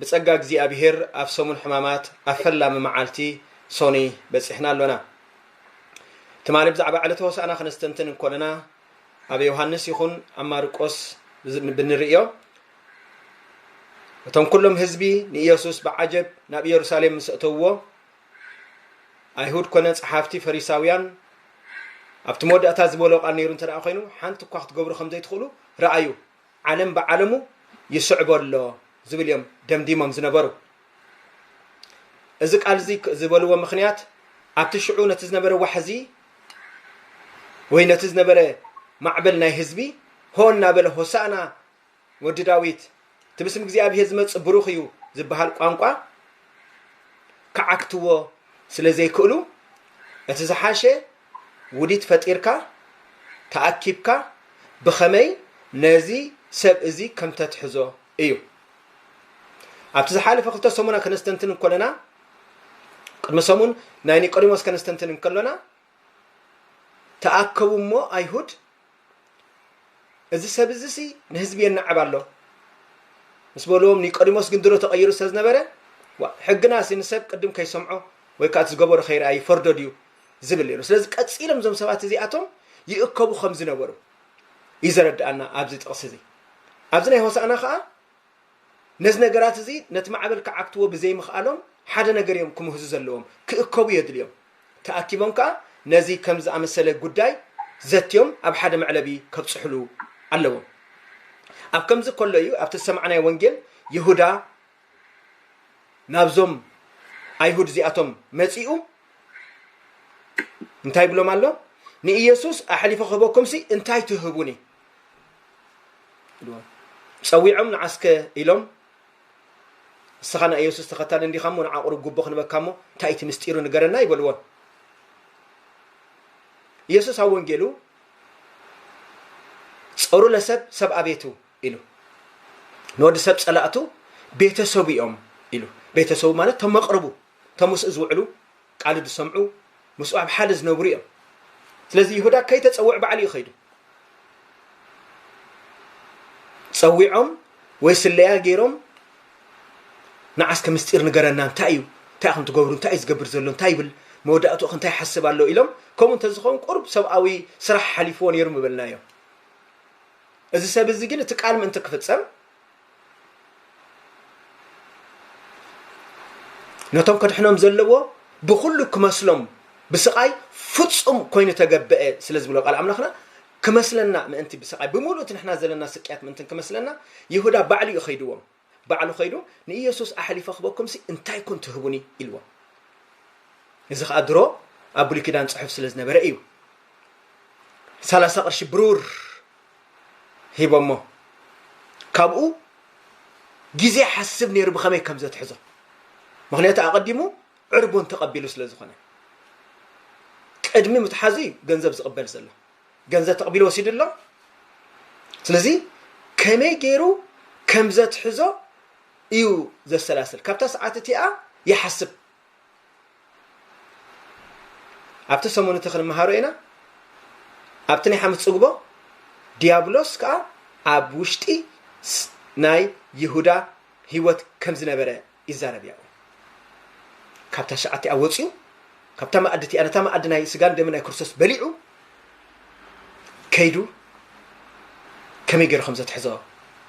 ብጸጋ እግዚኣብሄር ኣብ ሰሙን ሕማማት ኣብ ፈላሚ መዓልቲ ሶኑይ በጺሕና ኣሎና። ትማሊ ብዛዕባ ዕለተ ሆሳእና ክነስተንትን እንኮለና ኣብ ዮሃንስ ይኹን ኣብ ማርቆስ ብንርእዮ እቶም ኩሎም ህዝቢ ንኢየሱስ ብዓጀብ ናብ ኢየሩሳሌም ምስ እተውዎ ኣይሁድ ኮነ ጸሓፍቲ ፈሪሳውያን ኣብቲ መወዳእታ ዝበሎ ቃል ነይሩ እንተ ኮይኑ ሓንቲ እኳ ክትገብሩ ከም ዘይትኽእሉ ረኣዩ ዓለም ብዓለሙ ይስዕቦ ኣሎ ዝብል እዮም ደምዲሞም ዝነበሩ። እዚ ቃል እዚ ዝበልዎ ምክንያት ኣብቲ ሽዑ ነቲ ዝነበረ ዋሕዚ ወይ ነቲ ዝነበረ ማዕበል ናይ ህዝቢ ሆ እናበለ ሆሳእና ወዲ ዳዊት እቲ ብስም እግዚኣብሄር ዝመፅእ ብሩኽ እዩ ዝበሃል ቋንቋ ክዓግትዎ ስለ ዘይክእሉ እቲ ዝሓሸ ውዲት ፈጢርካ ተኣኪብካ ብኸመይ ነዚ ሰብ እዚ ከም ተትሕዞ እዩ። ኣብቲ ዝሓለፈ ክልተ ሰሙና ከነስተንትን እንከለና ቅድሚ ሰሙን ናይ ኒቆዲሞስ ከነስተንትን እንከሎና ተኣከቡ እሞ ኣይሁድ እዚ ሰብ እዚሲ ንህዝቢ የናዕብ ኣሎ ምስ በልዎም ኒቆዲሞስ ግን ድሮ ተቐይሩ ስለ ዝነበረ ሕግናሲ ንሰብ ቅድም ከይሰምዖ ወይ ከዓ እቲ ዝገበሮ ከይርኣ ይፈርዶ ድዩ ዝብል ነይሩ ስለዚ ቀፂሎም እዞም ሰባት እዚኣቶም ይእከቡ ከም ዝነበሩ እዩ ዘረድኣና ኣብዚ ጥቕሲ እዚ ኣብዚ ናይ ሆሳእና ከዓ ነዚ ነገራት እዚ ነቲ ማዕበል ክዓግትዎ ብዘይምኽኣሎም ሓደ ነገር ኢዮም ክምህዙ ዘለዎም፣ ክእከቡ የድልዮም። ተኣኪቦም ከኣ ነዚ ከምዚ ዝኣመሰለ ጉዳይ ዘትዮም ኣብ ሓደ መዕለቢ ከብጽሑሉ ኣለዎም። ኣብ ከምዚ ከሎ ኢዩ ኣብቲ ዝሰማዕናዮ ወንጌል ይሁዳ ናብዞም ኣይሁድ እዚኣቶም መጺኡ እንታይ ይብሎም ኣሎ? ንኢየሱስ ኣሕሊፈ ክህበኩምሲ እንታይ ትህቡኒ? ጸዊዖም ንዓስከ ኢሎም ንስኻ ናይ ኢየሱስ ተኸታሊ እንዲኻ እሞ ንዓ ቁሩብ ጉቦ ክንበካ እሞ እንታይ እቲ ምስጢሩ ንገረና ይበልዎ ኢየሱስ ኣብ ወንጌሉ ጸሩ ለሰብ ሰብ ኣቤቱ ኢሉ ንወዲ ሰብ ጸላእቱ ቤተሰቡ እዮም ኢሉ ቤተሰቡ ማለት ተመቕርቡ ተምስኡ ዝውዕሉ ቃሉ ዝሰምዑ ምስኡ ኣብ ሓደ ዝነብሩ እዮም ስለዚ ይሁዳ ከይተፀውዕ ባዕሉ እዩ ከይዱ ፀዊዖም ወይ ስለያ ገይሮም ንዓስከ ምስጢር ንገረና እንታይ እዩ እንታይ ከም ትገብሩ እንታይ እዩ ዝገብር ዘሎ እንታይ ይብል መወዳእትኡ ከ እንታይ ይሓስብ ኣሎ ኢሎም ከምኡ እንተዝኸውን ቁርብ ሰብኣዊ ስራሕ ሓሊፍዎ ነይሩ ምበልናዮ እዚ ሰብ እዚ ግን እቲ ቃል ምእንቲ ክፍፀም ነቶም ከድሕኖም ዘለዎ ብኹሉ ክመስሎም ብስቓይ ፍጹም ኮይኑ ተገብአ ስለ ዝብሎ ቃል ኣምላኽና ክመስለና ምእንቲ ብስቓይ ብምሉእ እቲ ንሕና ዘለና ስቅያት ምእንትን ክመስለና ይሁዳ ባዕሉ እዩ ከይድዎም ባዕሉ ከይዱ ንኢየሱስ ኣሕሊፈ ክበኩምሲ እንታይ ኩን ትህቡኒ ኢልዎም እዚ ከዓ ድሮ ኣብ ብሉይ ኪዳን ፅሑፍ ስለ ዝነበረ እዩ ሰላሳ ቅርሺ ብሩር ሂቦሞ ካብኡ ግዜ ሓስብ ነይሩ ብኸመይ ከም ዘትሕዞ ምክንያቱ ኣቐዲሙ ዕርቡን ተቐቢሉ ስለ ዝኾነ ቅድሚ ምትሓዙ እዩ ገንዘብ ዝቕበል ዘሎ ገንዘብ ተቕቢሉ ወሲዱ ኣሎ ስለዚ ከመይ ገይሩ ከም ዘትሕዞ እዩ ዘሰላስል ካብታ ሰዓት እቲኣ ይሓስብ ኣብቲ ሰሙን እቲ ክንምሃሮ ኢና ኣብቲ ናይ ሓሙስ ፅግቦ ዲያብሎስ ከዓ ኣብ ውሽጢ ስ- ናይ ይሁዳ ህይወት ከም ዝነበረ ይዛረብ ያው ካብታ ሸዓት እቲኣ ወፂኡ ካብታ መኣዲ እቲኣ ነታ መኣዲ ናይ ስጋን ደምን ናይ ክርስቶስ በሊዑ ከይዱ ከመይ ገይሩ ከም ዘትሕዞ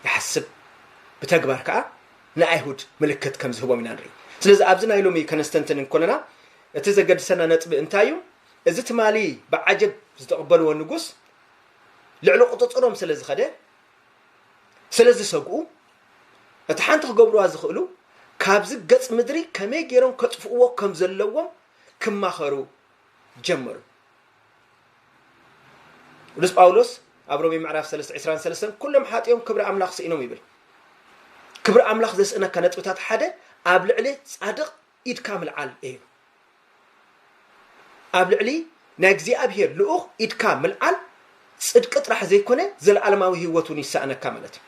ይሓስብ ብተግባር ከዓ ንኣይሁድ ምልክት ከም ዝህቦም ኢና ንርኢ። ስለዚ ኣብዚ ናይ ሎሚ ከነስተንትን እንኮለና እቲ ዘገድሰና ነጥቢ እንታይ እዩ? እዚ ትማሊ ብዓጀብ ዝተቕበልዎ ንጉስ ልዕሊ ቁጽጽሮም ስለ ዝኸደ ስለ ዝሰግኡ እቲ ሓንቲ ክገብርዋ ዝኽእሉ ካብዚ ገጽ ምድሪ ከመይ ገይሮም ከጥፍእዎ ከም ዘለዎም ክማኸሩ ጀመሩ። ቅዱስ ጳውሎስ ኣብ ሮሜ ምዕራፍ 3 ዕስራን ሰለስተን ኩሎም ሓጢኦም ክብሪ ኣምላኽ ስኢኖም ይብል ክብሪ ኣምላኽ ዘስእነካ ነጥብታት ሓደ ኣብ ልዕሊ ጻድቕ ኢድካ ምልዓል እዩ ኣብ ልዕሊ ናይ እግዚኣብሄር ልኡኽ ኢድካ ምልዓል ጽድቂ ጥራሕ ዘይኮነ ዘለዓለማዊ ህይወት እውን ይሰኣነካ ማለት እዩ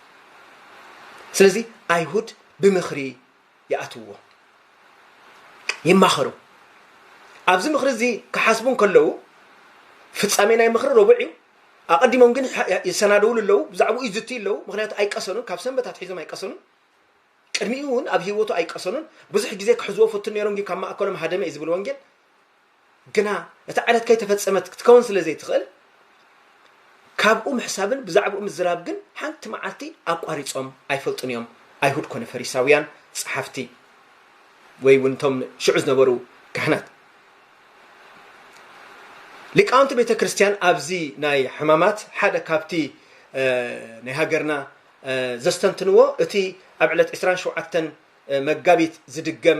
ስለዚ ኣይሁድ ብምኽሪ ይኣትውዎ። ይማኸሩ። ኣብዚ ምኽሪ እዚ ክሓስቡ እንከለዉ፣ ፍጻሜ ናይ ምኽሪ ረቡዕ እዩ። ኣቐዲሞም ግን ይሰናደውሉ ኣለዉ፣ ብዛዕባኡ ይዝትዩ ኣለዉ፣ ምኽንያቱ ኣይቀሰኑን፣ ካብ ሰንበት ኣትሒዞም ኣይቀሰኑን። ቅድሚኡ እውን ኣብ ህይወቱ ኣይቀሰኑን። ብዙሕ ግዜ ክሕዝዎ ፍቱን ነይሮም፣ ግን ካብ ማእከሎም ሃደመ እዩ ዝብል ወንጌል። ግና እታ ዕለት ከይተፈጸመት ክትከውን ስለ ዘይትኽእል፣ ካብኡ ምሕሳብን ብዛዕባኡ ምዝራብ ግን ሓንቲ መዓልቲ ኣቋሪጾም ኣይፈልጡን ኢዮም፣ ኣይሁድ ኰነ ፈሪሳውያን ጸሓፍቲ ወይ እውን እቶም ሽዑ ዝነበሩ ካህናት። ሊቃውንቲ ቤተ ክርስቲያን ኣብዚ ናይ ሕማማት ሓደ ካብቲ ናይ ሃገርና ዘስተንትንዎ እቲ ኣብ ዕለት ዕስራን ሸውዓተን መጋቢት ዝድገም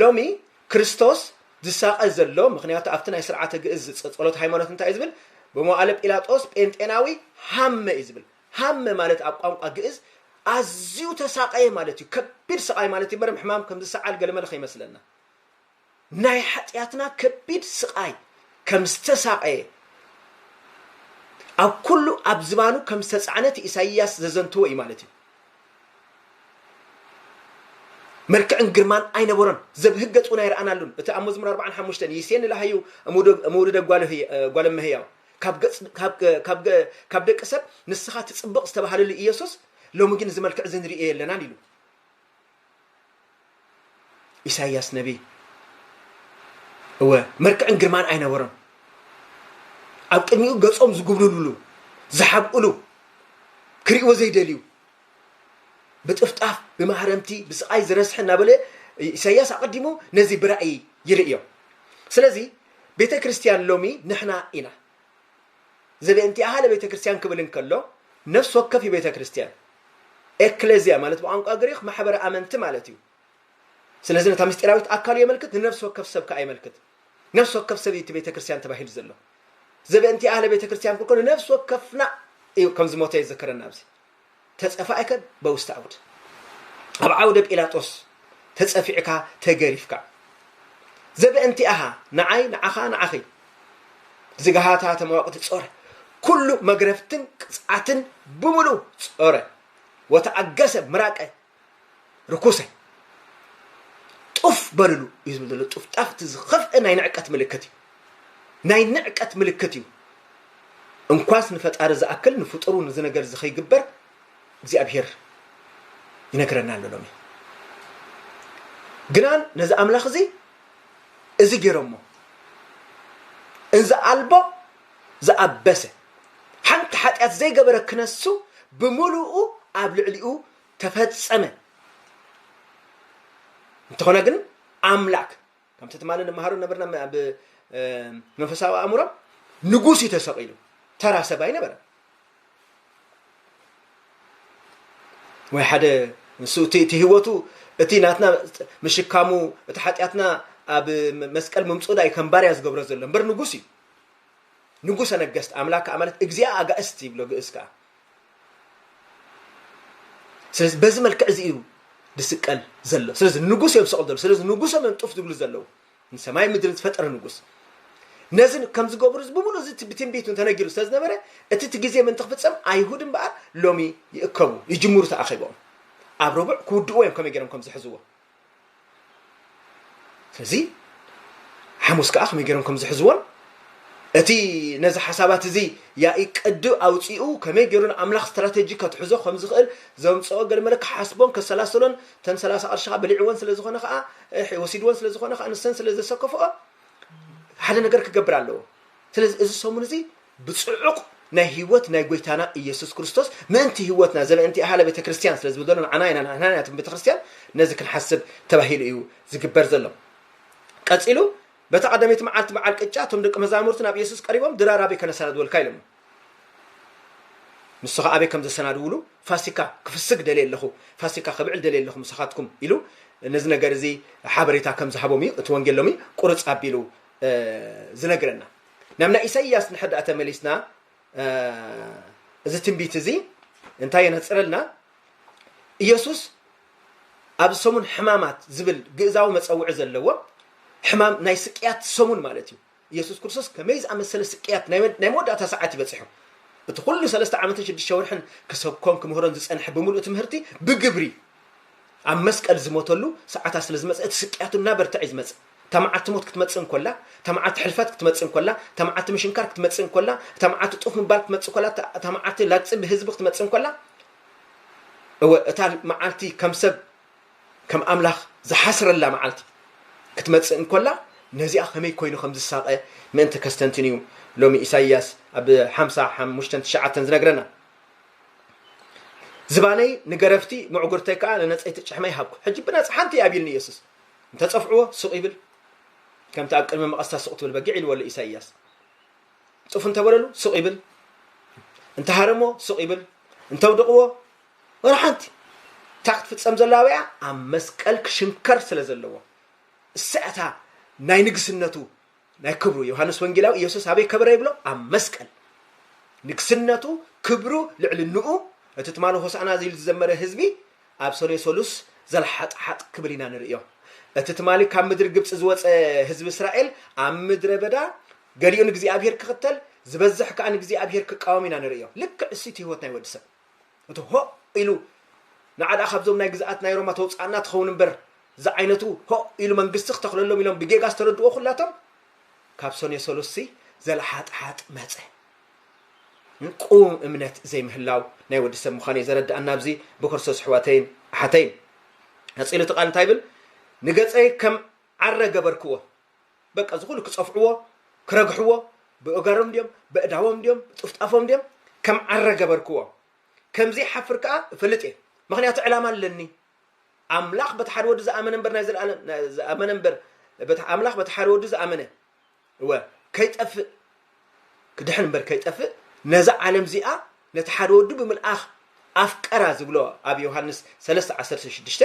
ሎሚ ክርስቶስ ዝሳቐ ዘሎ ምኽንያቱ ኣብቲ ናይ ስርዓተ ግእዝ ጸሎት ሃይማኖት እንታይ እዩ ዝብል ብመዋእለ ጲላጦስ ጴንጤናዊ ሃመ እዩ ዝብል ሃመ ማለት ኣብ ቋንቋ ግእዝ ኣዝዩ ተሳቐየ ማለት እዩ ከቢድ ስቓይ ማለት እዩ በርም ሕማም ከም ዝሰዓል ገለመለ ከይመስለና ናይ ሓጢኣትና ከቢድ ስቓይ ከም ዝተሳቐየ ኣብ ኩሉ ኣብ ዝባኑ ከም ዝተጻዕነ እቲ ኢሳይያስ ዘዘንትዎ እዩ ማለት እዩ መልክዕን ግርማን ኣይነበሮን፣ ዘብህገጽ እውን ኣይረኣናሉን። እቲ ኣብ መዝሙር ኣርብዓን ሓሙሽተን ይሴኒ ለሃዩ እምውሉደ ጓል እመሕያው፣ ካብ ደቂ ሰብ ንስኻ ትጽብቕ ዝተባህለሉ ኢየሱስ፣ ሎሚ ግን እዚ መልክዕ እዚ ንርእዮ የለናን ኢሉ። ኢሳይያስ ነቢ እወ መልክዕን ግርማን ኣይነበሮን ኣብ ቅድሚኡ ገጾም ዝጉብልሉሉ ዝሓብእሉ ክርእዎ ዘይደልዩ ብጥፍጣፍ ብማህረምቲ ብስቓይ ዝረስሐ እናበለ ኢሳያስ ኣቐዲሙ ነዚ ብራእይ ይርእዮ ስለዚ ቤተ ክርስቲያን ሎሚ ንሕና ኢና ዘቤእንቲኣሃ ለቤተክርስቲያን ክብል እንከሎ ነፍሲ ወከፍ እዩ ቤተክርስቲያን፣ ኤክለዝያ ማለት ብቋንቋ ግሪኽ ማሕበረ ኣመንቲ ማለት እዩ። ስለዚ ነታ ምስጢራዊት ኣካሉ የመልክት ንነፍሲ ወከፍ ሰብ ከኣ የመልክት። ነፍሲ ወከፍ ሰብ እዩ እቲ ቤተክርስቲያን ተባሂሉ ዘሎ። ዘቤእንቲኣሃ ለቤተክርስቲያን ክብል ከሎ ነፍሲ ወከፍና እዩ ከም ዝሞተ የዘከረና ኣብዚ። ተጸፋኢከ በውስተ ዓውድ ኣብ ዓውደ ጲላጦስ ተጸፊዕካ ተገሪፍካ ዘበእንቲኣሃ ንዓይ ንዓኻ ንዓኺ ዝግሃታ ተማወቅቲ ጾረ ኩሉ መግረፍትን ቅጽዓትን ብምሉ ጾረ ወተኣገሰ ምራቀ ርኩሰ ጡፍ በልሉ እዩ ዝብል ዘሎ ጡፍጣፍ እቲ ዝኸፍአ ናይ ንዕቀት ምልክት እዩ ናይ ንዕቀት ምልክት እዩ እንኳስ ንፈጣሪ ዝኣክል ንፍጡሩ ንዚ ነገር እዚ ከይግበር እግዚኣብሄር ይነግረና ኣሎ ሎሚ ግናን ነዚ ኣምላኽ እዚ እዚ ገይሮሞ እንዚ ኣልቦ ዝኣበሰ ሓንቲ ሓጢኣት ዘይገበረ ክነሱ ብምሉኡ ኣብ ልዕሊኡ ተፈጸመ። እንተኾነ ግን ኣምላክ ከምቲ ትማሊ ንመሃሮ ነበርና ኣብ መንፈሳዊ ኣእምሮ ንጉስ እዩ ተሰቂሉ ተራ ሰብ ኣይነበረ ወይ ሓደ ንሱ እቲ ህይወቱ እቲ ናትና ምሽካሙ እቲ ሓጢኣትና ኣብ መስቀል ምምፁዳ እዩ ከም ባርያ ዝገብሮ ዘሎ እምበር ንጉስ እዩ ንጉሰ ነገስት ኣምላክ ማለት እግዚኣብ ኣጋእስት ይብሎ ግእዝ ከዓ ስለዚ በዚ መልክዕ እዚ እዩ ዝስቀል ዘሎ ስለዚ ንጉስ እዮም ዝሰቕሉ ዘለዉ ስለዚ ንጉሶም እዮም ጡፍ ዝብሉ ዘለዉ ንሰማይ ምድርን ዝፈጠረ ንጉስ ነዚ ከም ዝገብሩ እዚ ብምሉእ እዚ ብትንቢት ተነጊሩ ስለ ዝነበረ እቲ እቲ ግዜ ምእንቲ ክፍፀም ኣይሁድ እምበኣር ሎሚ ይእከቡ ይጅምሩ ተኣኺቦም ኣብ ረቡዕ ክውድእዎ እዮም ከመይ ገይሮም ከም ዝሕዝዎ እዚ ሓሙስ ከኣ ከመይ ገይሮም ከም ዝሕዝዎን እቲ ነዚ ሓሳባት እዚ ያኢ ቅዲ ኣውፂኡ ከመይ ገይሩ ንኣምላኽ ስትራቴጂ ከትሕዞ ከም ዝኽእል ዘምፅኦ ገልመለ ክሓስቦን ከሰላስሎን ተን ሰላሳ ቅርሺ ከዓ በሊዕወን ስለ ዝኾነ ከዓ ወሲድወን ስለ ዝኾነ ከዓ ንሰን ስለ ዘሰከፍኦ ሓደ ነገር ክገብር ኣለዎ ስለዚ እዚ ሰሙን እዚ ብጽዑቕ ናይ ህይወት ናይ ጎይታና ኢየሱስ ክርስቶስ ምእንቲ ህይወትና ዘለእንቲ ኣሃለ ቤተ ክርስቲያን ስለ ዝብል ዘሎ ንዓና ኢና ንሕና ኢና ቤተ ክርስቲያን ነዚ ክንሓስብ ተባሂሉ እዩ ዝግበር ዘሎ ቀጺሉ በታ ቀዳመይቲ መዓልቲ በዓል ቅጫ እቶም ደቂ መዛሙርቲ ናብ ኢየሱስ ቀሪቦም ድራር ኣበይ ከነሰናድወልካ ኢሎሞ ንሱ ከዓ ኣበይ ከም ዘሰናድውሉ ፋሲካ ክፍስግ ደልየ ኣለኹ ፋሲካ ክብዕል ደልየ ኣለኹ ምሳኻትኩም ኢሉ ነዚ ነገር እዚ ሓበሬታ ከም ዝሃቦም እዩ እቲ ወንጌል ሎሚ ቁርፅ ኣቢሉ ዝነግረና ናብ ናይ ኢሳይያስ ንሕዳእ ተመሊስና እዚ ትንቢት እዚ እንታይ የነጽረልና ኢየሱስ ኣብ ሰሙን ሕማማት ዝብል ግእዛዊ መፀውዒ ዘለዎ ሕማም ናይ ስቅያት ሰሙን ማለት እዩ ኢየሱስ ክርስቶስ ከመይ ዝኣመሰለ ስቅያት ናይ መወዳእታ ሰዓት ይበፅሑ እቲ ኩሉ ሰለስተ ዓመትን ሽዱሽተ ወርሕን ክሰብኮን ክምህሮን ዝፀንሐ ብምሉእ ትምህርቲ ብግብሪ ኣብ መስቀል ዝሞተሉ ሰዓታት ስለ ዝመፀ እቲ ስቅያቱ እናበርትዐ እዩ ዝመፅእ እታ መዓልቲ ሞት ክትመጽእ እንኮላ፣ እታ መዓልቲ ሕልፈት ክትመጽእ እንኮላ፣ እታ መዓልቲ ምሽንካር ክትመጽእ እንኮላ፣ እታ መዓልቲ ጡፍ ምባል ክትመጽእ እንኮላ፣ እታ መዓልቲ ላግጺ ብህዝቢ ክትመጽእ እንኮላ፣ እወ እታ መዓልቲ ከም ሰብ ከም ኣምላኽ ዝሓስረላ መዓልቲ ክትመጽእ እንኮላ ነዚኣ ከመይ ኮይኑ ከም ዝሳቐ ምእንቲ ከስተንትን እዩ ሎሚ ኢሳይያስ ኣብ ሓምሳ ሓሙሽተን ትሽዓተን ዝነግረና። ዝባነይ ንገረፍቲ ምዕጉርተይ ከዓ ንነጸይቲ ጭሕመይ ሃብኩ። ሕጂ ብናጽ ሓንቲ እያ ኣቢልኒ ኢየሱስ። እንተጸፍዕዎ ስቕ ይብል፣ ከምቲ ኣብ ቅድሚ መቐስታ ስቕ ትብል በጊዕ ኢልዎ'ሎ ኢሳይያስ። ጡፍ እንተበለሉ ስቕ ይብል፣ እንተሃረምዎ ስቕ ይብል፣ እንተውድቕዎ ወላ ሓንቲ እታ ክትፍጸም ዘላ ኣበያ ኣብ መስቀል ክሽንከር ስለ ዘለዎ እሰያታ ናይ ንግስነቱ ናይ ክብሩ ዮሃንስ ወንጌላዊ ኢየሱስ ኣበይ ከበረ ይብሎ ኣብ መስቀል ንግስነቱ ክብሩ ልዕልንኡ እቲ ትማሊ ሆሳዕና ዝኢሉ ዝዘመረ ህዝቢ ኣብ ሰኔ ሰሉስ ዘልሓጥሓጥ ክብል ኢና ንርእዮ እቲ ትማሊ ካብ ምድሪ ግብፂ ዝወፀ ህዝቢ እስራኤል ኣብ ምድረ በዳ ገሊኡ ንእግዚኣብሔር ክኽተል ዝበዝሕ ከዓ ንእግዚኣብሔር ክቃወም ኢና ንርእዮ ልክዕ እሱቲ ህይወት ናይ ወዲ ሰብ እቲ ሆእ ኢሉ ንዓ ደኣ ካብዞም ናይ ግዝኣት ናይ ሮማ ተውጽኣና ትኸውን እምበር ዝዓይነቱ ሆእ ኢሉ መንግስቲ ክተኽለሎም ኢሎም ብጌጋ ዝተረድዎ ኩላቶም ካብ ሰኔ ሰሉስሲ ዘለሓጥሓጥ መጸ። ቁውም እምነት ዘይምህላው ናይ ወዲ ሰብ ምዃኑ እዩ ዘረድኣና ኣብዚ ብክርስቶስ ኣሕዋተይን ኣሓተይን። ቀጺሉ እቲ ቃል እንታይ ይብል? ንገጸይ ከም ዓረ ገበርክዎ፣ በቃ ዝኹሉ ክጸፍዕዎ ክረግሕዎ ብእገሮም ድዮም በእዳዎም ድዮም ጥፍጣፎም ድዮም ከም ዓረ ገበርክዎ ከምዘይ ሓፍር ከኣ እፈልጥ እየ ምክንያቱ ዕላማ ኣለኒ ኣምላኽ በቲ ሓደ ወዲ ዝኣመነ እምበር ናይ ዘለኣለም ዝኣመነ እምበር ኣምላኽ በቲ ሓደ ወዲ ዝኣመነ እወ ከይጠፍእ ክድሕን እምበር ከይጠፍእ ነዛ ዓለም እዚኣ ነቲ ሓደ ወዱ ብምልኣኽ ኣፍቀራ ዝብሎ ኣብ ዮሃንስ ሰለስተ ዓሰርተ ሽዱሽተ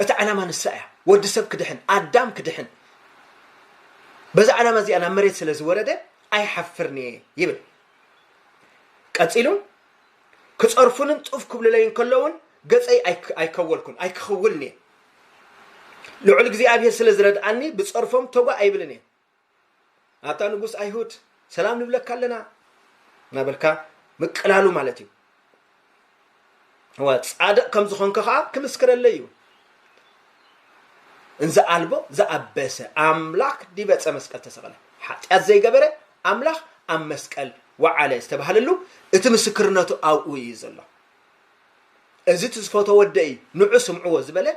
እቲ ዓላማ ንሳ እያ ወዲ ሰብ ክድሕን ኣዳም ክድሕን በዛ ዓላማ እዚኣ ናብ መሬት ስለ ዝወረደ ኣይሓፍርን እየ ይብል ቀፂሉ ክፀርፉንን ጡፍ ክብልለይን ከለውን ገፀይ ኣይከወልኩን ኣይክኽውልን እየ ልዑል እግዚኣብሄር ስለ ዝረድኣኒ ብፀርፎም ተጓ ኣይብልን እየ ኣታ ንጉስ ኣይሁድ ሰላም ንብለካ ኣለና እናበልካ ምቅላሉ ማለት እዩ ጻድቕ ከም ዝኾንከ ከዓ ክምስክረለይ እዩ እንዘ ኣልቦ ዘኣበሰ ኣምላክ ዲበ ዕፀ መስቀል ተሰቐለ ሓጢኣት ዘይገበረ ኣምላኽ ኣብ መስቀል ወዓለ ዝተባሃለሉ እቲ ምስክርነቱ ኣብኡ እዩ ዘሎ እዚ እቲ ዝፈቶ ወደ እዩ ንዑ ስምዕዎ ዝበለ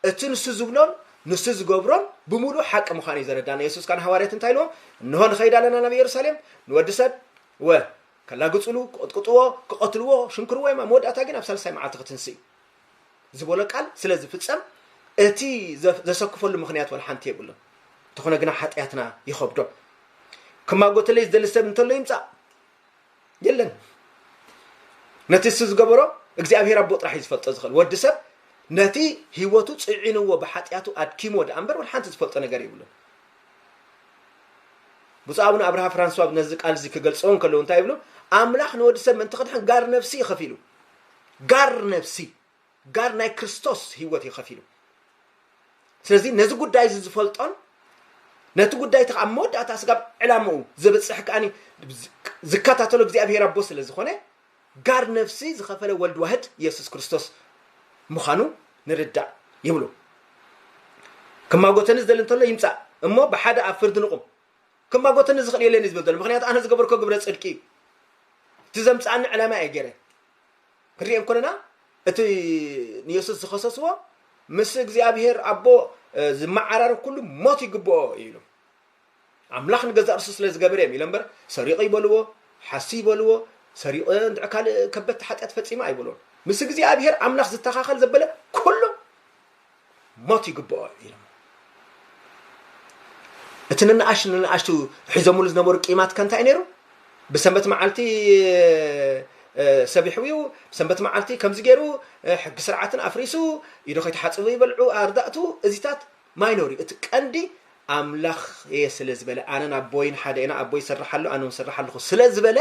እቲ ንሱ ዝብሎን ንሱ ዝገብሮን ብምሉኡ ሓቂ ምዃኑ እዩ ዘረዳና። የሱስ ከኣ ንሃዋርያት እንታይ ኢልዎም? እንሆ ንኸይድ ኣለና ናብ የሩሳሌም፣ ንወዲ ሰብ ወ ከላግጹሉ፣ ክቕጥቅጥዎ፣ ክቐትልዎ፣ ሽንክርዎ እዮም፣ ኣብ መወዳእታ ግን ኣብ ሳልሳይ መዓልቲ ክትንስእ እዩ ዝበሎ ቃል ስለ ዝፍጸም እቲ ዘሰክፈሉ ምኽንያት ወላ ሓንቲ የብሉን። እንተኾነ ግና ሓጢኣትና ይኸብዶ። ክማጎተለይ ዝደሊ ሰብ እንተሎ ይምጻእ። የለን ነቲ እሱ ዝገበሮ እግዚኣብሔር ኣቦ ጥራሕ እዩ ዝፈልጦ ዝኽእል ወዲ ሰብ ነቲ ህይወቱ ፅዒንዎ ብሓጢኣቱ ኣድኪሞ ድኣ እምበር ወደ ሓንቲ ዝፈልጦ ነገር የብሉን ብፁዕ ኣቡነ ኣብርሃ ፍራንስዋ ነዚ ቃል እዚ ክገልፅዎ እንከለዉ እንታይ ይብሉ ኣምላኽ ንወዲ ሰብ ምእንቲ ክድሕን ጋር ነፍሲ እዩ ከፊሉ ጋር ነፍሲ ጋር ናይ ክርስቶስ ህይወት እዩ ከፊሉ ስለዚ ነዚ ጉዳይ እዚ ዝፈልጦን ነቲ ጉዳይ እቲ ኣብ መወዳእታ ስጋብ ዕላምኡ ዘብፅሕ ከዓኒ ዝከታተሎ እግዚኣብሄር ኣቦ ስለ ዝኾነ ጋር ነፍሲ ዝኸፈለ ወልድ ዋህድ ኢየሱስ ክርስቶስ ምዃኑ ንርዳእ ይብሉ ክማጎተኒ ዝደሊ እንተሎ ይምፃእ እሞ ብሓደ ኣብ ፍርዲ ንቑም ክማጎተኒ ዝኽእል የለን እዩ ዝበል ዘሎ ምክንያቱ ኣነ ዝገበርኮ ግብረ ፅድቂ እዩ እቲ ዘምፃኣኒ ዕላማ እየ ገይረ ክንሪኦ እንኮለና እቲ ንየሱስ ዝኸሰስዎ ምስ እግዚኣብሄር ኣቦ ዝመዓራረብ ኩሉ ሞት ይግብኦ እዩ ኢሎም ኣምላኽ ንገዛእ ርሱ ስለ ዝገበረ እዮም ኢሎም እምበር ሰሪቑ ይበልዎ ሓሱ ይበልዎ ሰሪቑ እንድዕ ካልእ ከበድቲ ሓጢኣት ፈፂመ ኣይበልዎም ምስ እግዚኣብሄር ኣምላኽ ዝተኻኸል ዘበለ ኩሉ ሞት ይግብኦ ኢሎም እቲ ንንኣሽ ንንኣሽቱ ሒዞምሉ ዝነበሩ ቂማት ከ እንታይ ነይሩ ብሰንበት መዓልቲ ሰቢሑ እዩ ሰንበት መዓልቲ ከምዚ ገይሩ ሕጊ ስርዓትን ኣፍሪሱ ኢዶ ከይተሓፅቡ ይበልዑ ኣርዳእቱ እዚታት ማይኖሪ እቲ ቀንዲ ኣምላኽ እየ ስለ ዝበለ ኣነን ኣቦይን ሓደ ኢና ኣቦይ ይሰርሕ ኣሎ ኣነ እውን ስራሕ ኣለኹ ስለ ዝበለ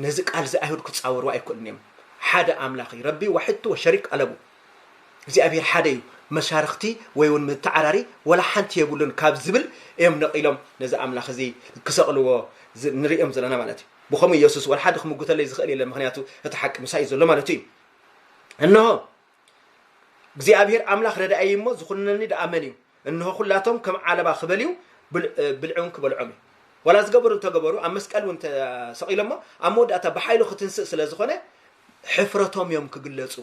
ነዚ ቃልዚ ኣይሁድ ክጻወርዎ ኣይክእሉን እዮም ሓደ ኣምላኽ እዩ ረቢ ዋሕድቱ ወሸሪክ ኣለቡ እግዚኣብሔር ሓደ እዩ መሻርኽቲ ወይ እውን ምተዓራሪ ወላ ሓንቲ የብሉን ካብ ዝብል እዮም ነቒሎም ነዚ ኣምላኽ እዚ ክሰቕልዎ ንርእዮም ዘለና ማለት እዩ ብከምኡ ኢየሱስ ወላ ሓደ ክምጉተለይ ዝኽእል የለን ምክንያቱ እቲ ሓቂ ምሳይ እዩ ዘሎ ማለቱ እዩ እንሆ እግዚኣብሄር ኣምላኽ ረዳእይ እሞ ዝኹንነኒ ደኣ መን እዩ? እንሆ ዅላቶም ከም ዓለባ ክበልዩ ብልዕውን ክበልዖም እዩ። ዋላ ዝገበሩ እንተ ገበሩ ኣብ መስቀል እውን እንተ ሰቒሎሞ ኣብ መወዳእታ ብሓይሉ ክትንስእ ስለ ዝኾነ ሕፍረቶም እዮም ክግለጹ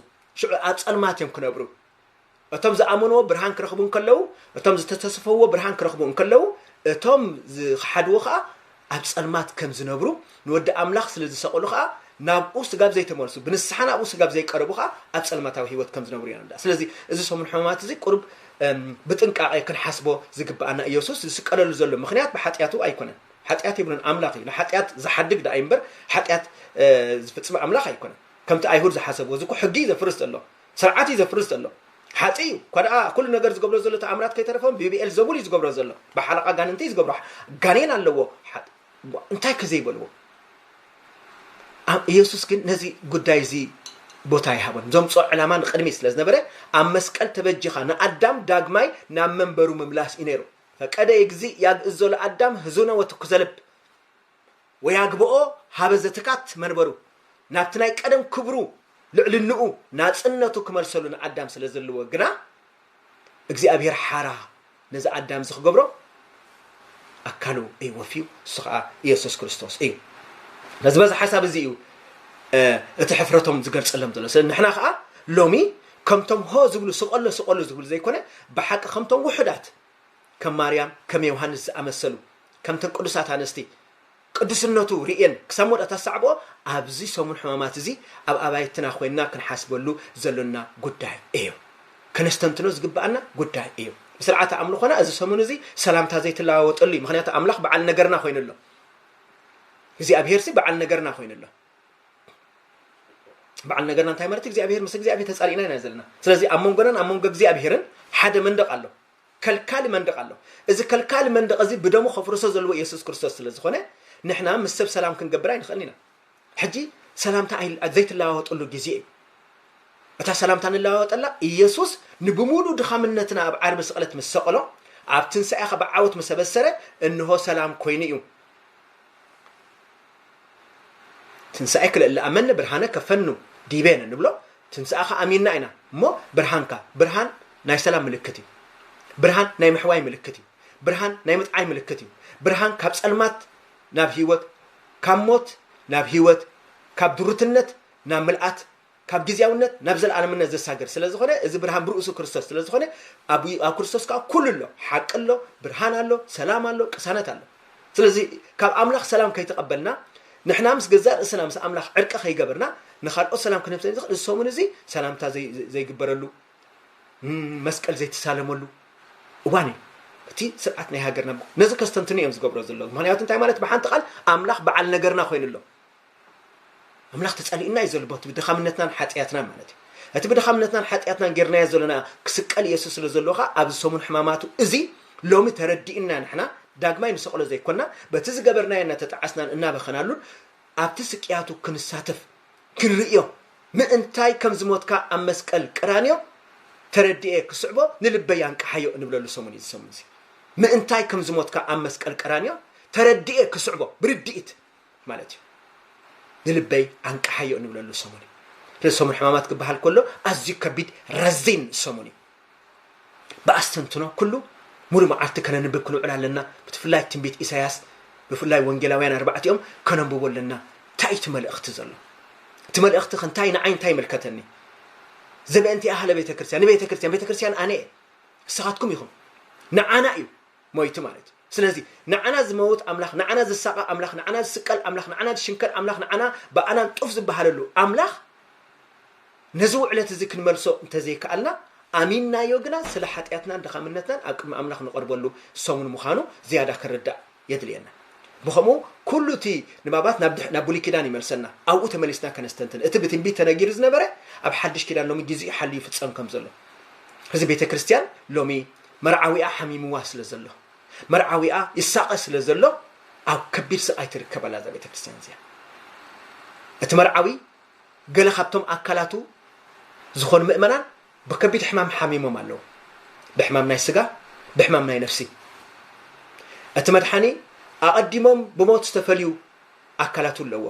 ሽዑ ኣብ ጸልማት እዮም ክነብሩ እቶም ዝኣመንዎ ብርሃን ክረኽቡ እንከለዉ እቶም ዝተተስፈዎ ብርሃን ክረኽቡ እንከለዉ እቶም ዝኸሓድዎ ከዓ ኣብ ጸልማት ከም ዝነብሩ፣ ንወዲ ኣምላኽ ስለ ዝሰቐሉ ኸኣ ናብኡ ስጋብ ዘይተመልሱ፣ ብንስሓ ናብኡ ስጋብ ዘይቀረቡ ኸኣ ኣብ ጸልማታዊ ህይወት ከም ዝነብሩ የረድኣ። ስለዚ እዚ ሰሙን ሕማማት እዚ ቁሩብ ብጥንቃቐ ክንሓስቦ ዝግብኣና ኢየሱስ ዝስቀለሉ ዘሎ ምኽንያት ብሓጢኣቱ ኣይኮነን። ሓጢኣት የብሉን ኣምላኽ እዩ። ንሓጢኣት ዝሓድግ ደኣ እዩ እምበር ሓጢኣት ዝፍጽም ኣምላኽ ኣይኮነን። ከምቲ ኣይሁድ ዝሓሰብዎ እዚ እኮ ሕጊ እዩ ዘፍርስ ዘሎ። ስርዓት እዩ ዘፍርስ ዘሎ ሓፂ እዩ እኳ ደኣ ኩሉ ነገር ዝገብሮ ዘሎ ተኣምራት ከይተረፈ ብብኤል ዘቡል እዩ ዝገብሮ ዘሎ ብሓለቓ ጋንንቲ እዩ ዝገብሮ ጋኔን ኣለዎ እንታይ ከ ዘይበልዎ ኢየሱስ ግን ነዚ ጉዳይ እዚ ቦታ ይሃቦን ዘምፅኦ ዕላማ ንቅድሚ ስለ ዝነበረ ኣብ መስቀል ተበጂኻ ንኣዳም ዳግማይ ናብ መንበሩ ምምላስ እዩ ነይሩ ፈቀደ እግዚእ ያግእዝ ዘሎ ኣዳም ህዙነ ወትኩዘልብ ወያግብኦ ኀበ ዘትካት መንበሩ፣ ናብቲ ናይ ቀደም ክብሩ፣ ልዕልንኡ፣ ናጽነቱ ክመልሰሉ ንኣዳም ስለ ዘልዎ ግና፣ እግዚኣብሔር ሓራ ነዚ ኣዳምዚ ክገብሮ ኣካሉ እዩ ወፍዩ፣ እሱ ኸኣ ኢየሱስ ክርስቶስ እዩ። ነዚ በዚ ሓሳብ እዚ እዩ እቲ ሕፍረቶም ዝገልጸሎም ዘሎ። ስለ ንሕና ኸኣ ሎሚ ከምቶም ሆ ዝብሉ ስቀሎ ስቀሎ ዝብሉ ዘይኮነ፣ ብሓቂ ከምቶም ውሑዳት ከም ማርያም ከም ዮሃንስ ዝኣመሰሉ፣ ከምተን ቅዱሳት ኣንስቲ ቅዱስነቱ ርእየን ክሳብ ሞት ኣታሰዕብኦ ኣብዚ ሰሙን ሕማማት እዚ ኣብ ኣባይትና ኮይንና ክንሓስበሉ ዘሎና ጉዳይ እዩ። ከነስተንትኖ ዝግብኣና ጉዳይ እዩ። ስርዓተ ኣምልኾና እዚ ሰሙን እዚ ሰላምታ ዘይትለዋወጠሉ እዩ። ምክንያቱ ኣምላኽ በዓል ነገርና ኮይኑ ኣሎ። እግዚኣብሄርሲ በዓል ነገርና ኮይኑ ኣሎ። በዓል ነገርና እንታይ ማለት እግዚኣብሄር ምስ እግዚኣብሄር ተፃሊእና ኢና ዘለና። ስለዚ ኣብ መንጎናን ኣብ መንጎ እግዚኣብሄርን ሓደ መንደቕ ኣሎ። ከልካሊ መንድቕ ኣሎ። እዚ ከልካሊ መንድቕ እዚ ብደሙ ከፍርሶ ዘለዎ የሱስ ክርስቶስ ስለ ዝኾነ ንሕና ምስ ሰብ ሰላም ክንገብር ኣይንኽእልን ኢና። ሕጂ ሰላምታ ኣይ ዘይትለዋወጥሉ ግዜ እዩ። እታ ሰላምታ ንለዋወጠላ ኢየሱስ ንብሙሉ ድኻምነትና ኣብ ዓርቢ ስቕለት ምስ ሰቐሎ ኣብ ትንሳኤኻ ብዓወት ምስ ኣበሰረ እንሆ ሰላም ኮይኑ እዩ። ትንሣኤኪ ለእለ ኣመነ ብርሃነከ ፈኑ ዲቤነ ንብሎ ትንሣኤኻ ኣሚንና ኢና እሞ ብርሃንካ ብርሃን ናይ ሰላም ምልክት እዩ ብርሃን ናይ ምሕዋይ ምልክት እዩ ብርሃን ናይ ምጥዓይ ምልክት እዩ ብርሃን ካብ ጸልማት ናብ ህይወት ካብ ሞት ናብ ህይወት ካብ ድሩትነት ናብ ምልኣት ካብ ግዝያውነት ናብ ዘልኣለምነት ዘሳግር ስለ ዝኾነ እዚ ብርሃን ብርእሱ ክርስቶስ ስለ ዝኾነ ኣብ ኣብ ክርስቶስ ከኣ ኩሉ ኣሎ ሓቂ ኣሎ ብርሃን ኣሎ ሰላም ኣሎ ቅሳነት ኣሎ ስለዚ ካብ ኣምላኽ ሰላም ከይተቐበልና ንሕና ምስ ገዛእ ርእስና ምስ ኣምላኽ ዕርቂ ከይገበርና ንኻልኦት ሰላም ክንህብ ንኽእል እዚ ሰሙን እዚ ሰላምታ ዘይግበረሉ መስቀል ዘይተሳለመሉ እዋን እዩ እቲ ስርዓት ናይ ሃገርና ነዚ ከስተንትኑ እዮም ዝገብሮ ዘለዉ ምክንያቱ እንታይ ማለት ብሓንቲ ቃል ኣምላኽ በዓል ነገርና ኮይኑ ኣሎ ኣምላኽ ተጸሊኡና እዩ ዘሎ በቲ ብድኻምነትናን ሓጥያትናን ማለት እዩ። እቲ ብድኻምነትናን ሓጥያትናን ጌርናዮ ዘሎና ክስቀል ኢየሱስ ስለ ዘሎ ከኣ ኣብዚ ሰሙን ሕማማቱ እዚ ሎሚ ተረዲእና ንሕና ዳግማይ ንሰቕሎ ዘይኮንና በቲ ዝገበርናዮ እናተጣዓስናን እናበኸናሉን ኣብቲ ስቅያቱ ክንሳተፍ ክንርእዮ ምእንታይ ከም ዝሞትካ ኣብ መስቀል ቀራንዮ ተረድኤ ክስዕቦ ንልበይ ኣንቅሓዮ እንብለሉ ሰሙን እዩ ዝሰሙን እዚ ምእንታይ ከም ዝሞትካ ኣብ መስቀል ቀራንዮ ተረድኤ ክስዕቦ ብርድኢት ማለት እዩ ንልበይ ኣንቃሓዮ እንብለሉ ሰሙን እዩ ስለዚ ሰሙን ሕማማት ክበሃል ከሎ ኣዝዩ ከቢድ ረዚን ሰሙን እዩ ብኣስተንትኖ ኩሉ ሙሉ መዓልቲ ከነንብብ ክንውዕል ኣለና ብትፍላይ ትንቢት ኢሳያስ ብፍላይ ወንጌላውያን ኣርባዕቲኦም ከነንብቦ ኣለና እንታይ እቲ መልእኽቲ ዘሎ እቲ መልእኽቲ ከ እንታይ ንዓይ እንታይ ይምልከተኒ ዘበእንቲ ኣህለ ቤተ ክርስቲያን ንቤተ ክርስቲያን ቤተ ክርስቲያን ኣነ እየ ንስኻትኩም ኢኹም ንዓና እዩ ሞይቲ ማለት እዩ ስለዚ ንዓና ዝመውት ኣምላኽ፣ ንዓና ዝሳቐ ኣምላኽ፣ ንዓና ዝስቀል ኣምላኽ፣ ንዓና ዝሽንከል ኣምላኽ፣ ንዓና ብኣናን ጡፍ ዝበሃለሉ ኣምላኽ ነዚ ውዕለት እዚ ክንመልሶ እንተዘይከኣልና ኣሚንናዮ ግና ስለ ሓጢኣትናን ድኻምነትናን ኣብ ቅድሚ ኣምላኽ ንቐርበሉ ሰሙን ምዃኑ ዝያዳ ክንርዳእ የድልየና። ብኸምኡ ኩሉ እቲ ንባባት ናብ ድሕ ናብ ብሉይ ኪዳን ይመልሰና። ኣብኡ ተመሊስና ከነስተንትን እቲ ብትንቢት ተነጊሩ ዝነበረ ኣብ ሓድሽ ኪዳን ሎሚ ጊዜኡ ሓልዩ ይፍጸም ከም ዘሎ እዚ ቤተ ክርስቲያን ሎሚ መርዓዊኣ ሓሚምዋ ስለ ዘሎ መርዓዊኣ ይሳቐ ስለ ዘሎ ኣብ ከቢድ ስቓይ ትርከብ ኣላ እዛ ቤተክርስትያን እዚኣ እቲ መርዓዊ ገለ ካብቶም ኣካላቱ ዝኾኑ ምእመናን ብከቢድ ሕማም ሓሚሞም ኣለዉ ብሕማም ናይ ስጋ ብሕማም ናይ ነፍሲ እቲ መድሓኒ ኣቐዲሞም ብሞት ዝተፈልዩ ኣካላቱ ኣለዎ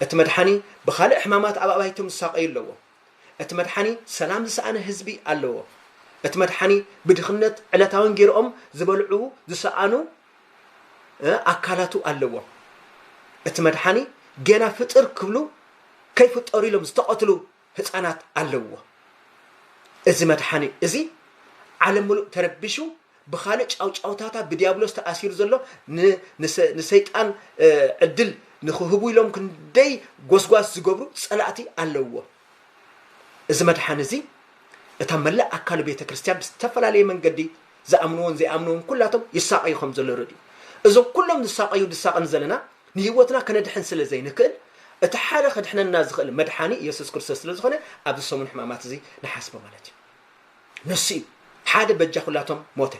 እቲ መድሓኒ ብካልእ ሕማማት ኣብ ኣባይቶም ዝሳቐዩ ኣለዎ እቲ መድሓኒ ሰላም ዝሰኣነ ህዝቢ ኣለዎ። እቲ መድሓኒ ብድኽነት ዕለታዊ እንጌርኦም ዝበልዑ ዝሰኣኑ ኣካላቱ ኣለዎም። እቲ መድሓኒ ገና ፍጥር ክብሉ ከይፍጠሩ ኢሎም ዝተቐትሉ ህፃናት ኣለውዎ። እዚ መድሓኒ እዚ ዓለም ምሉእ ተረቢሹ ብኻልእ ጫውጫውታታ ብድያብሎስ ተኣሲሩ ዘሎ ን ንሰ ንሰይጣን ዕድል ንኽህቡ ኢሎም ክንደይ ጎስጓስ ዝገብሩ ጸላእቲ ኣለውዎ። እዚ መድሓኒ እዚ እታ መላእ ኣካሉ ቤተ ክርስትያን ብዝተፈላለየ መንገዲ ዝኣምንዎን ዘይኣምንዎን ኩላቶም ይሳቐዩ ከም ዘሎ ርድኡ። እዞም ኩሎም ዝሳቐዩ ድሳቐ ንዘለና ንህይወትና ከነድሕን ስለ ዘይንክእል እቲ ሓደ ከድሕነና ዝኽእል መድሓኒ የሱስ ክርስቶስ ስለ ዝኾነ ኣብዚ ሰሙን ሕማማት እዚ ንሓስቦ ማለት እዩ። ንሱ እዩ ሓደ በጃ ኩላቶም ሞተ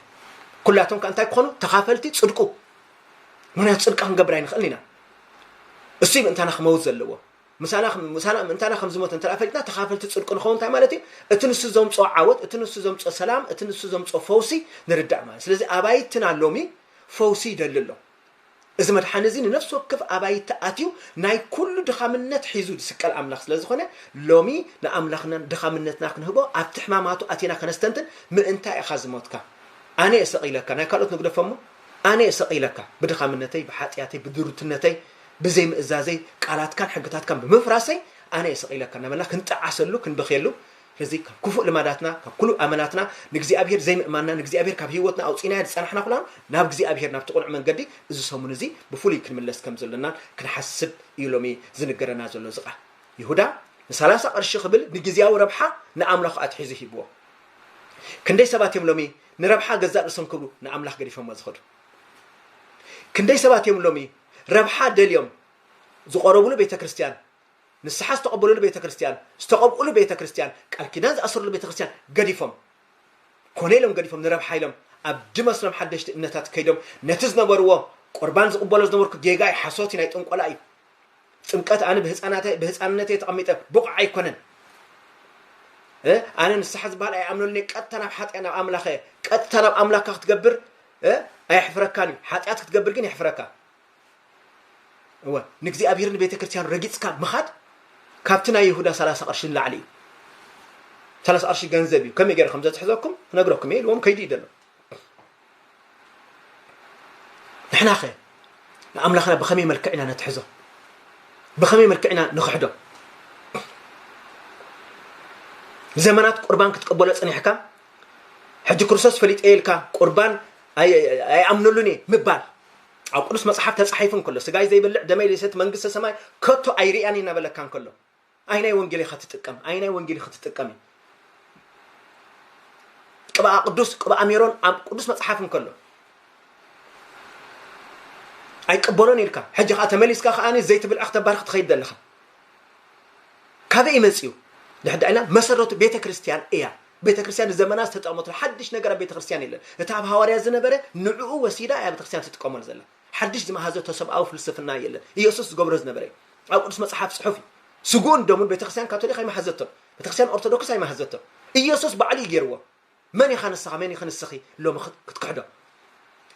ኩላቶም ከ እንታይ ክኾኑ ተኻፈልቲ ጽድቁ ምክንያቱ ጽድቂ ክንገብር ኣይንኽእልን ኢና እሱ እዩ ምእንታና ክመውት ዘለዎ ምሳና ምሳና ምእንታና ከም ዝሞተ እንተ ፈሊጥና ተኻፈልቲ ጽድቁ ንኸውን እንታይ ማለት እዩ እቲ ንሱ ዘምፅኦ ዓወት እቲ ንሱ ዘምፅኦ ሰላም እቲ ንሱ ዘምፅኦ ፈውሲ ንርዳእ ማለት ስለዚ ኣባይትና ሎሚ ፈውሲ ይደሊ ኣሎ እዚ መድሓኒ እዚ ንነፍሲ ወከፍ ኣባይቲ ኣትዩ ናይ ኩሉ ድኻምነት ሒዙ ዝስቀል ኣምላኽ ስለ ዝኾነ ሎሚ ንኣምላኽናን ድኻምነትና ክንህቦ ኣብቲ ሕማማቱ ኣቲና ከነስተንትን ምእንታይ ኢኻ ዝሞትካ ኣነ እየ ሰቒለካ ናይ ካልኦት ንግደፎሞ ኣነ እየ ሰቒለካ ብድኻምነተይ ብሓጢኣተይ ብድሩትነተይ ብዘይምእዛዘይ ቃላትካን ሕግታትካን ብምፍራሰይ ኣነ እየ ሰቒለካ እናበልና ክንጠዓሰሉ ክንበኽየሉ ነዚ ካብ ክፉእ ልማዳትና ካብ ኩሉ ኣመላትና ንእግዚኣብሄር ዘይምእማንና ንእግዚኣብሄር ካብ ህይወትና ኣውጺእናዮ ዝጸናሕና ኩናም ናብ እግዚኣብሄር ናብቲ ቅኑዕ መንገዲ እዚ ሰሙን እዚ ብፍሉይ ክንምለስ ከም ዘሎናን ክንሓስብ እዩ ሎሚ ዝንገረና ዘሎ እዚ ቃል ይሁዳ ንሳላሳ ቅርሺ ክብል ንግዝያዊ ረብሓ ንኣምላኹ ኣትሒዙ ሂብዎ ክንደይ ሰባት እዮም ሎሚ ንረብሓ ገዛእ ርእሶም ክብሉ ንኣምላኽ ገዲፎሞ ዝኸዱ ክንደይ ሰባት እዮም ሎሚ ረብሓ ደልዮም ዝቆረብሉ ቤተ ክርስቲያን ንስሓ ዝተቐበልሉ ቤተ ክርስቲያን፣ ዝተቐብእሉ ቤተ ክርስቲያን፣ ቃል ኪዳን ዝኣሰርሉ ቤተ ክርስቲያን ገዲፎም፣ ኮነ ኢሎም ገዲፎም ንረብሓ ኢሎም ኣብ ድመስሎም ሓደሽቲ እምነታት ከይዶም ነቲ ዝነበርዎ ቁርባን ዝቕበሎ ዝነበርኩ ጌጋ እዩ፣ ሓሶት እዩ፣ ናይ ጥንቆላ እዩ። ጥምቀት ኣነ ብህፃናተ ብህፃንነተይ ተቐሚጠ ብቑዕ ኣይኮነን። እ ኣነ ንስሓ ዝበሃል ኣይኣምነሉን እየ። ቀጥታ ናብ ሓጢኣ ናብ ኣምላኸ እየ። ቀጥታ ናብ ኣምላክካ ክትገብር እ ኣየሕፍረካን እዩ። ሓጢኣት ክትገብር ግን የሕፍረካ። እወ ንእግዚኣብሔርን ንቤተክርስትያኑ ረጊጽካ ምኻድ ካብቲ ናይ ይሁዳ ሰላሳ ቅርሺ ንላዕሊ እዩ ሰላሳ ቅርሺ ገንዘብ እዩ ከመይ ገይረ ከም ዘትሕዘኩም ክነግረኩም እየ ኢልዎም ከይዱ እዩ ዘሎ ንሕና ኸ ንኣምላኽና ብኸመይ መልክዕ ኢና ነትሕዞ ብኸመይ መልክዕ ኢና ንኽሕዶ ዘመናት ቁርባን ክትቀበሎ ጽኒሕካ ሕጂ ክርስቶስ ፈሊጠ ኢልካ ቁርባን ኣይኣምነሉን እየ ምባል ኣብ ቅዱስ መጽሓፍ ተጻሒፉ እንከሎ ስጋይ ዘይበልዕ ደመይ ዘይሰቲ መንግስተ ሰማይ ከቶ ኣይርእያን እዩ እናበለካ እንከሎ ኣይናይ ወንጌል ኢኻ ትጥቀም ኣይናይ ወንጌል ኢኻ ትጥቀም እዩ ቅብኣ ቅዱስ ቅብኣ ሜሮን ኣብ ቅዱስ መጽሓፍ እንከሎ ኣይቀበሎን ኢልካ ሕጂ ከዓ ተመሊስካ ከዓ ዘይትብልዐ ክተባርኽ ትኸይድ ዘለኻ ካበይ መፅኡ ድሕዳ ኢልና መሰረቱ ቤተ ክርስቲያን እያ ቤተክርስትያን ንዘመናት ዝተጠቐመትሉ ሓድሽ ነገር ኣብ ቤተክርስትያን የለን። እቲ ኣብ ሃዋርያት ዝነበረ ንዕኡ ወሲዳ እያ ቤተክርስትያን ትጥቀመሉ ዘላ። ሓድሽ ዝመሃዘቶ ሰብኣዊ ፍልስፍና የለን። ኢየሱስ ዝገብሮ ዝነበረ እዩ። ኣብ ቅዱስ መጽሓፍ ጽሑፍ እዩ። ስግኡን ደሙን ቤተክርስትያን ካቶሊክ ኣይመሃዘቶን። ቤተክርስትያን ኦርቶዶክስ ኣይመሃዘቶን። ኢየሱስ ባዕሉ እዩ ገይርዎ። መን ኢኻ ንስኻ መን ኢኺ ንስኺ ሎሚ ክትክሕዶ?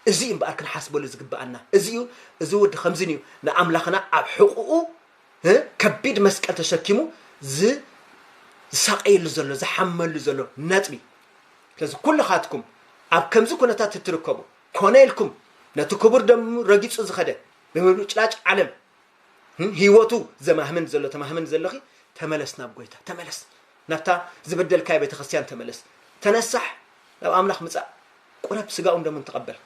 እዚ እዩ እምበኣር ክንሓስበሉ ዝግበኣና። እዚ እዩ እዚ ወዲ ከምዚ እዩ ንኣምላኽና ኣብ ሕቑኡ ከቢድ መስቀል ተሸኪሙ ዝሳቐየሉ ዘሎ ዝሓመሉ ዘሎ ነጥቢ ስለዚ ኩልኻትኩም ኣብ ከምዚ ኩነታት እትርከቡ ኮነ ኢልኩም ነቲ ክቡር ደሙ ረጊጹ ዝኸደ ብምብጭላጭ ዓለም ህይወቱ ዘማህምን ዘሎ ተማህምን ዘለኺ ተመለስ ናብ ጎይታ ተመለስ ናብታ ዝበደልካዮ ቤተ ክርስቲያን ተመለስ ተነሳሕ ናብ ኣምላኽ ምጻእ ቁረብ ስጋኡን ደሙን ተቐበል።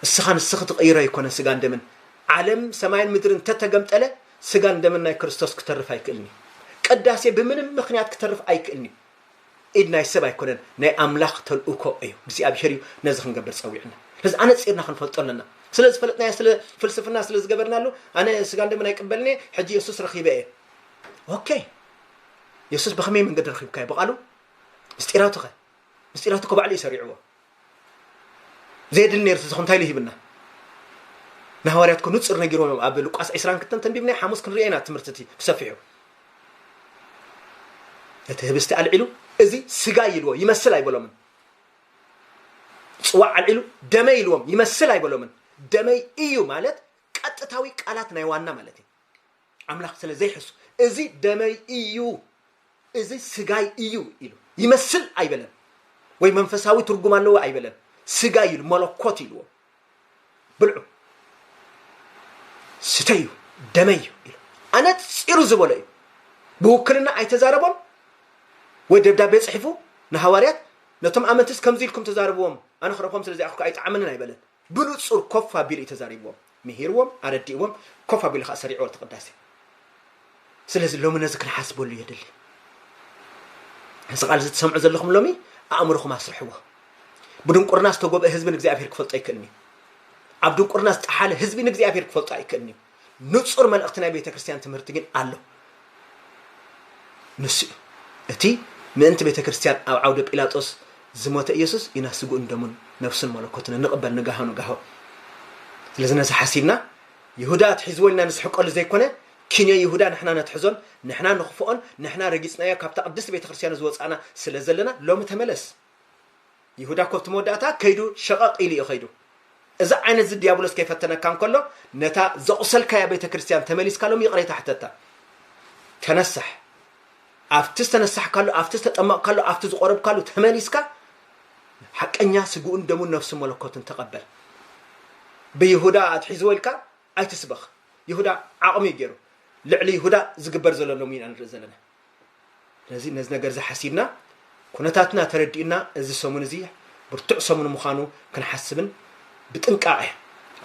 እስኻ ንስኺ ትቕይሮ ኣይኮነ ስጋን ደምን ዓለም ሰማይን ምድርን እንተተገምጠለ ስጋን ደምን ናይ ክርስቶስ ክተርፍ ኣይክእልን እዩ። ቅዳሴ ብምንም ምክንያት ክተርፍ ኣይክእልን እዩ። ኢድ ናይ ሰብ ኣይኮነን ናይ ኣምላኽ ተልእኮ እዩ። እግዚኣብሔር እዩ ነዚ ክንገብር ጸዊዕና። ነዚ ኣነጺርና ክንፈልጦ ኣለና። ስለ ዝፈለጥናዮ ስለ ፍልስፍና ስለ ዝገበርናሉ ኣነ ስጋን ደምን ኣይቅበልን እየ ሕጂ የሱስ ረኺበ እየ። ኦኬ የሱስ ብኸመይ መንገዲ ረኺብካዮ? ብቓሉ ምስጢራቱ ኸ ምስጢራት እኮ ባዕሉ እዩ ሰሪዕዎ ዘየድሊ ነይሩ ተዝኾን እንታይ ኢሉ ሂብና ንሃዋርያት እኮ ንፁር ነጊሮም እዮም ኣብ ሉቃስ 20 ክተን ተንቢብናዮ ሓሙስ ክንሪኦ ኢና ትምህርቲ እቲ ብሰፊሑ እቲ ህብስቲ ኣልዒሉ እዚ ስጋ ይልዎ ይመስል ኣይበሎምን ፅዋዕ ኣልዒሉ ደመይ ኢልዎም ይመስል ኣይበሎምን ደመይ እዩ ማለት ቀጥታዊ ቃላት ናይ ዋና ማለት እዩ ኣምላኽ ስለ ዘይሕሱ እዚ ደመይ እዩ እዚ ስጋይ እዩ ኢሉ ይመስል ኣይበለን ወይ መንፈሳዊ ትርጉም ኣለዎ ኣይበለን ስጋይ ኢሉ መለኮት ኢልዎ ብልዑ ስተዩ ደመይ እዩ ኢሉ ኣነፂሩ ዝበሎ እዩ ብውክልና ኣይተዛረቦን ወይ ደብዳቤ ፅሒፉ ንሃዋርያት ነቶም ኣመንትስ ከምዚ ኢልኩም ተዛርብዎም ኣነ ክረኽቦም ስለ ዘይኣኽልኩ ኣይጠዓመንን ኣይበለን ብንጹር ኮፍ ኣቢሉ እዩ ተዛሪብዎም ምሂርዎም ኣረዲእዎም ኮፍ ኣቢሉ ከኣ ሰሪዕዎ እቲ ቅዳሴ ስለዚ ሎሚ ነዚ ክንሓስበሉ የድሊ እዚ ቃል እዚ ትሰምዑ ዘለኹም ሎሚ ኣእምሮኹም ኣስርሕዎ ብድንቁርና ዝተጎብአ ህዝቢ ንእግዚኣብሔር ክፈልጦ ኣይክእልን እዩ ኣብ ድንቁርና ዝጠሓለ ህዝቢ ንእግዚኣብሔር ክፈልጦ ኣይክእልን እዩ ንጹር መልእኽቲ ናይ ቤተ ክርስቲያን ትምህርቲ ግን ኣሎ። ንሱ እዩ እቲ ምእንቲ ቤተ ክርስቲያን ኣብ ዓውደ ጲላጦስ ዝሞተ ኢየሱስ ኢና ስግኡን ደሙን ነፍሱን መለኮቱን እንቕበል ንጋሆ ንጋሆ። ስለዚ ነዚ ሓሲብና ይሁዳ ኣትሒዝዎ ኢልና ንስሕቀሉ ዘይኮነ ኪንዮ ይሁዳ ንሕና ነትሕዞን ንሕና ንኽፍኦን ንሕና ረጊጽናዮ ካብታ ቅድስቲ ቤተ ክርስቲያኑ ዝወጻእና ስለ ዘለና ሎሚ ተመለስ ይሁዳ እኮ ኣብቲ መወዳእታ ከይዱ ሸቐቕ ኢሉ እዩ ከይዱ። እዚ ዓይነት እዚ ዲያብሎስ ከይፈተነካ እንከሎ ነታ ዘቑሰልካያ ቤተ ክርስቲያን ተመሊስካ ሎም ይቕሬታ ሕተታ። ተነሳሕ ኣብቲ ዝተነሳሕካሉ ኣብቲ ዝተጠመቕካሉ ኣብቲ ዝቆረብካሉ ተመሊስካ ሓቀኛ ስግኡን ደሙን ነፍሱ መለኮትን ተቐበል። ብይሁዳ ኣትሒዝዎ ኢልካ ኣይትስበኽ። ይሁዳ ዓቕሙ እዩ ገይሩ። ልዕሊ ይሁዳ ዝግበር ዘሎ ሎሚ ኢና ንርኢ ዘለና። ስለዚ ነዚ ነገር እዚ ሓሲብና ኩነታትና ተረዲእና እዚ ሰሙን እዚ ብርቱዕ ሰሙን ምዃኑ ክንሓስብን ብጥንቃቐ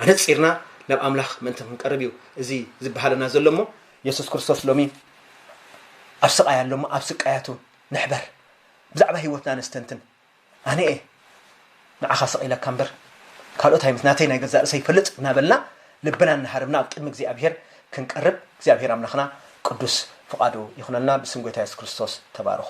ኣነፂርና ናብ ኣምላኽ ምእንቲ ክንቀርብ እዩ እዚ ዝበሃለና ዘሎ እሞ የሱስ ክርስቶስ ሎሚ ኣብ ስቃይ ኣሎ እሞ ኣብ ስቃያቱ ንሕበር ብዛዕባ ህይወትና ነስተንትን ኣነ እየ ንዓኻ ሰቒለካ እምበር ካልኦት ኣይመስ ናተይ ናይ ገዛእ ርእሰይ ይፈልጥ እናበልና ልብና እናሃርምና ኣብ ቅድሚ እግዚኣብሄር ክንቀርብ እግዚኣብሄር ኣምላኽና ቅዱስ ፍቓዱ ይኹነልና ብስም ጎይታ የሱስ ክርስቶስ ተባረኹ